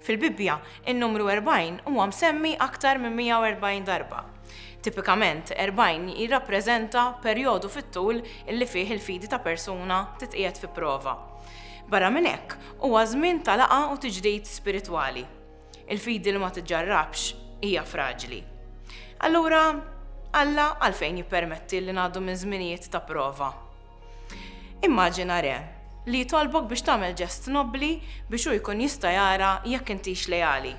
Fil-Bibbja, in-numru erbgħin huwa msemmi aktar minn 140 darba. Tipikament, erbgħin jirrappreżenta perjodu fit-tul li fih il-fidi ta' persuna titqiegħed fi prova. Barra minn hekk, huwa żmien ta' laqgħa u tiġdid spiritwali. Il-fidi li ma tiġġarrabx hija fraġli. Allura, Alla għalfejn jippermetti li ngħaddu minn żminijiet ta' prova? Immaġina re li jitolbok biex tagħmel ġest nobbli biex hu jkun jista' jara jekk intix leali.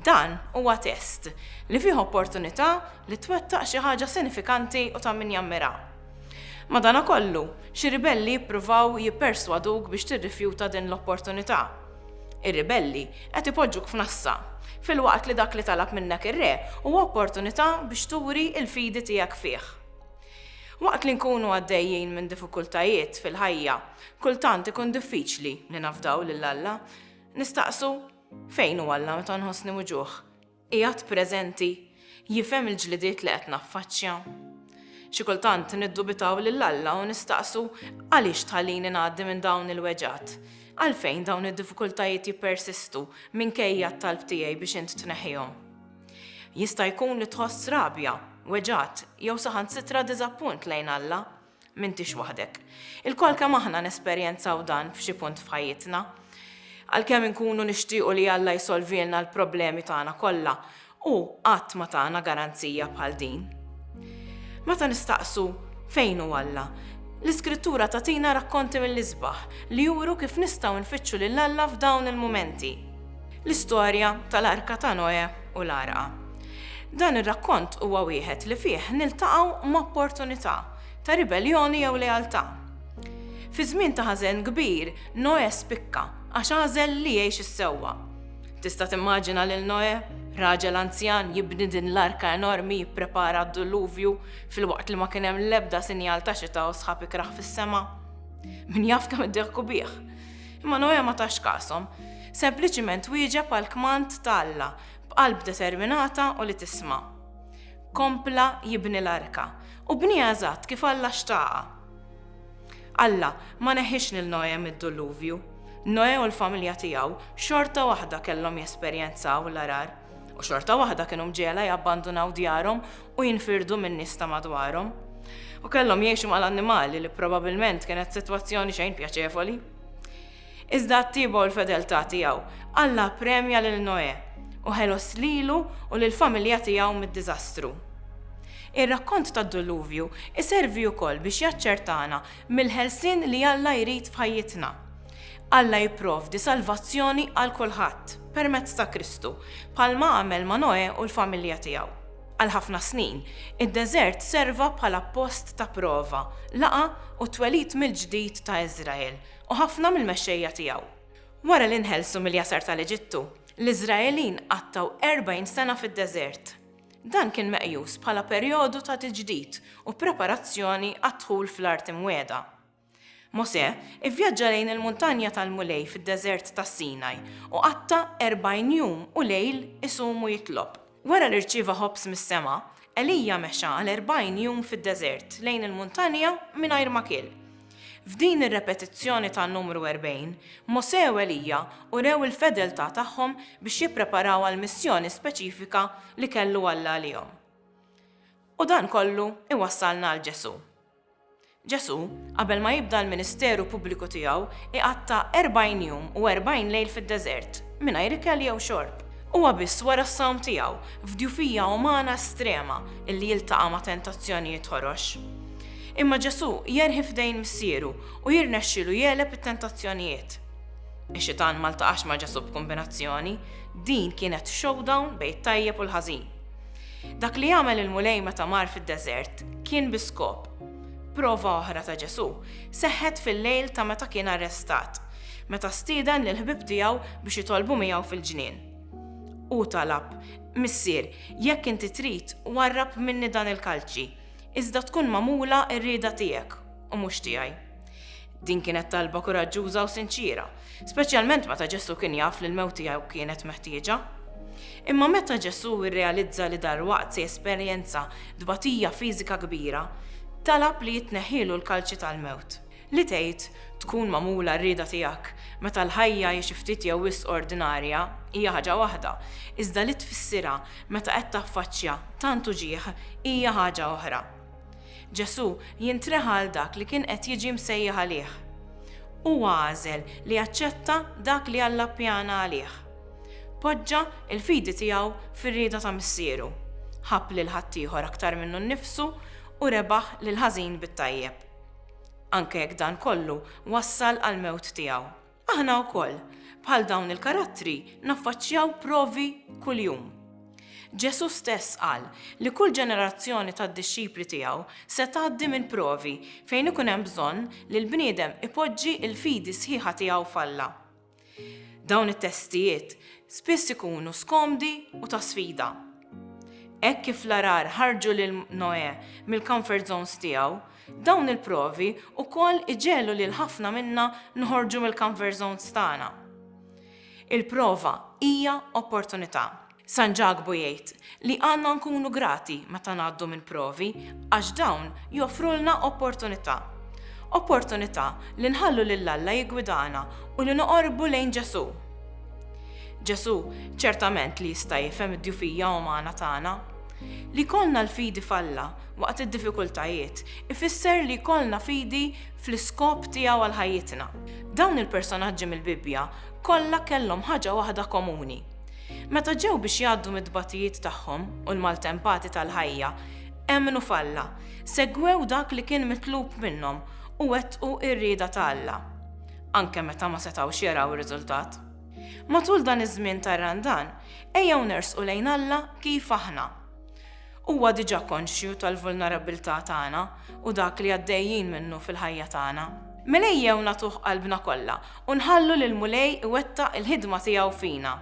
Dan huwa test li fih opportunità li twettaq xi ħaġa sinifikanti u ta' min jammira. Madanakollu, xi ribelli jippruvaw jipperswaduk biex tirrifjuta din l-opportunità. Ir-ribelli qed ipoġġuk f'nassa, filwaqt li dak li talab minnek ir-re huwa opportunità biex turi l-fidi tiegħek fih. Waqt li nkunu għaddejjin minn diffikultajiet fil-ħajja, kultant ikun diffiċli li nafdaw lil Alla. Nistaqsu, Fejn hu Alla meta nħossni muġugħ? Qiegħed preżenti? Jifhem il-ġlidiet li qed naffaċċja? Xi kultant niddubitaw lil Alla u nistaqsu, Għaliex tħallini ngħaddi minn dawn il-weġgħat? Għalfejn dawn id-diffikultajiet jippersistu minkejja t-talb tiegħi biex int tneħħihom? Jista' jkun li tħoss rabja, weġgħat, jew saħansitra diżappunt lejn Alla. M'intix waħdek. Ilkoll kemm aħna nesperjenzaw dan f'xi punt f'ħajjitna. Għalkemm inkunu nixtiequ li Alla jsolvilna l-problemi tagħna kollha, hu qatt ma tana garanzija bħal din. Meta nistaqsu fejn hu Alla, l-Iskrittura tagħtina rakkonti mill-isbaħ li juru kif nistgħu nfittxu lil Alla f'dawn il-mumenti. L-istorja tal-Arka ta' Noè u l-Għarqa. Dan ir-rakkont huwa wieħed li fih niltaqgħu m'opportunità ta' ribelljoni jew lealtà. Fi żmien ta' ħażen kbir, Noè spikka għax għażel li jgħix is-sewwa. Tista' timmaġina lil Noè, raġel anzjan, jibni din l-arka enormi, jipprepara għad-duluvju, filwaqt li ma kien hemm l-ebda sinjal ta' xita u sħab ikrah fis-sema? Min jaf kemm iddehku bih! Imma Noè ma tax kashom. Sempliċiment wieġeb għall-kmand ta' Alla b'qalb determinata u li tisma'. Kompla jibni l-arka, u bnieha eżatt kif Alla xtaqha. Alla ma neħħiex lil Noè mid-Duluvju. Noè u l-familja tiegħu xorta waħda kellhom jesperjenzaw l-għarar. u xorta waħda kienu mġegħla jabbandunaw djarhom u jinfirdu min-nies ta' madwarhom. U kellhom jgħixu mal-annimali li probabilment kienet sitwazzjoni xejn pjaċevoli. Iżda t-tieba u l-fedeltà tiegħu, Alla premja lil Noè u ħelos lilu u lill-familja tiegħu mid-diżastru. Ir-rakkont tad-Duluvju iservi wkoll biex jaċċertana mill-ħelsien li Alla jrid f'ħajjitna. Alla jipprovdi salvazzjoni għal kulħadd permezz ta' Kristu, bħalma għamel ma' Noè u l-familja tiegħu. Għal ħafna snin, id-deżert serva bħala post ta' prova, laqgħa u t-twelid mill-ġdid ta' Iżrael u ħafna mill-mexxejja tiegħu. Wara li nħelsu mill-jasar tal-Eġittu, l-Iżraelin qattgħu erbgħin sena fid-deżert. Dan kien meqjus bħala perjodu ta' tiġdid u preparazzjoni għad-dħul fl-Art Imwiegħda. Mosè ivvjaġġa lejn il-muntanja tal-Mulej fid-deżert tas-Sinaj u qatta' erbgħin jum u lejl isum u jitlob. Wara li rċieva ħobż mis-sema, Elija mexa għal erbgħin jum fid-deżert lejn il-muntanja mingħajr ma kiel. F'din ir-repetizzjoni ta' Numru Erbgħin, Mosè u Elija urew il-fedeltà tagħhom biex jippreparaw għall-missjoni speċifika li kellu Alla għalihom. U dan kollu iwassalna għal Ġesù. Ġesù, qabel ma jibda l-ministeru pubbliku tiegħu, iqatta' erbgħin jum u erbgħin lejl fid-deżert, mingħajr ikel jew xorb. Huwa biss wara s-sawm tiegħu, f'djufija umana estrema, illi jiltaqa' ma' tentazzjonijiet ħorox. Imma Ġesù jerħi f'idejn Missieru u jirnexxilu jegħleb it-tentazzjonijiet. Ix-Xitan ma ltaqax ma' Ġesù b'kumbinazzjoni, din kienet showdown bejn it-tajjeb u l-ħażin. Dak li għamel il-Mulej meta mar fid-deżert kien bi skop. Prova oħra ta' Ġesù seħħet fil-lejl ta' meta kien arrestat, meta stieden lill-ħbieb tiegħu biex jitolbu miegħu fil-ġnien. Hu talab, Missier, jekk inti trid, warrab minni dan il-kalċi, iżda tkun magħmula r-rieda tiegħek u mhux tiegħi. Din kienet talba kuraġġuża u sinċiera, speċjalment meta Ġesù kien jaf li l-mewt tiegħu kienet meħtieġa. Imma meta Ġesù rrealizza li dalwaqt se jesperjenza tbatija fiżika kbira, talab li jitneħħielu l-kalċi tal-mewt. Li tgħid, Tkun magħmula r-rieda tiegħek, meta l-ħajja hi xi ftit jew wisq ordinarja, hija ħaġa waħda, iżda li tfissirha, meta qed taffaċċja tant uġigħ, hija ħaġa oħra. Ġesù jintreħa għal dak li kien qed jiġi msejjaħ għalih. Huwa għażel li jaċċetta dak li Alla ppjana għalih. Poġġa l-fidi tiegħu fir-rieda ta' Missieru, ħabb lil ħaddieħor aktar minnu nnifsu u rebaħ lill-ħażin bit-tajjeb. Anke jekk dan kollu wassal għall-mewt tiegħu. Aħna wkoll, bħal dawn il-karattri, naffaċċjaw provi kuljum. Ġesù stess qal li kull ġenerazzjoni tad-dixxipli tiegħu se tgħaddi minn provi fejn ikun hemm bżonn li l-bniedem ipoġġi l-fidi sħiħa tiegħu f'Alla. Dawn it-testijiet spiss ikunu skomdi u ta' sfida. Hekk kif l-għarar ħarġu lil Noè mill-comfort zones tiegħu, Dawn il-provi wkoll iġegħlu lil ħafna minna noħorġu mill-comfort zones tagħna. Il-prova hija opportunità. San Ġakbu jgħid li għandna nkunu grati meta ngħaddu minn provi għax dawn joffrulna opportunità. Opportunità li nħallu lil Alla jiggwidana u li noqorbu lejn Ġesù. Ġesù ċertament li jista' jifhem id-djufija umana tagħna. Li jkollna l-fidi f'Alla waqt id-diffikultajiet, ifisser li jkollna fidi fl-iskop tiegħu għal ħajjitna. Dawn il-personaġġi mill-Bibbja kollha kellhom ħaġa waħda komuni. Meta ġew biex jgħaddu mit-tbatijiet tagħhom u l-maltempati tal-ħajja, emmnu f'Alla, segwew dak li kien mitlub minnhom u wettqu r-rieda ta' Alla, anke meta ma setgħux jaraw ir-riżultat. Matul dan iż-żmien tar-Randan, ejjew nersqu lejn Alla kif aħna. Huwa diġà konxju tal-vulnerabbiltà tagħna u dak li għaddejjin minnu fil-ħajja tagħna. Mela ejjew nagħtuh qalbna kollha u nħallu lill-Mulej iwettaq il-ħidma tiegħu fina.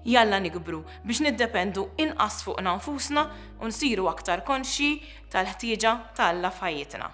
Jalla nikbru biex niddependu inqas fuqna nfusna u nsiru aktar konxji tal-ħtieġa ta' Alla f'ħajjitna.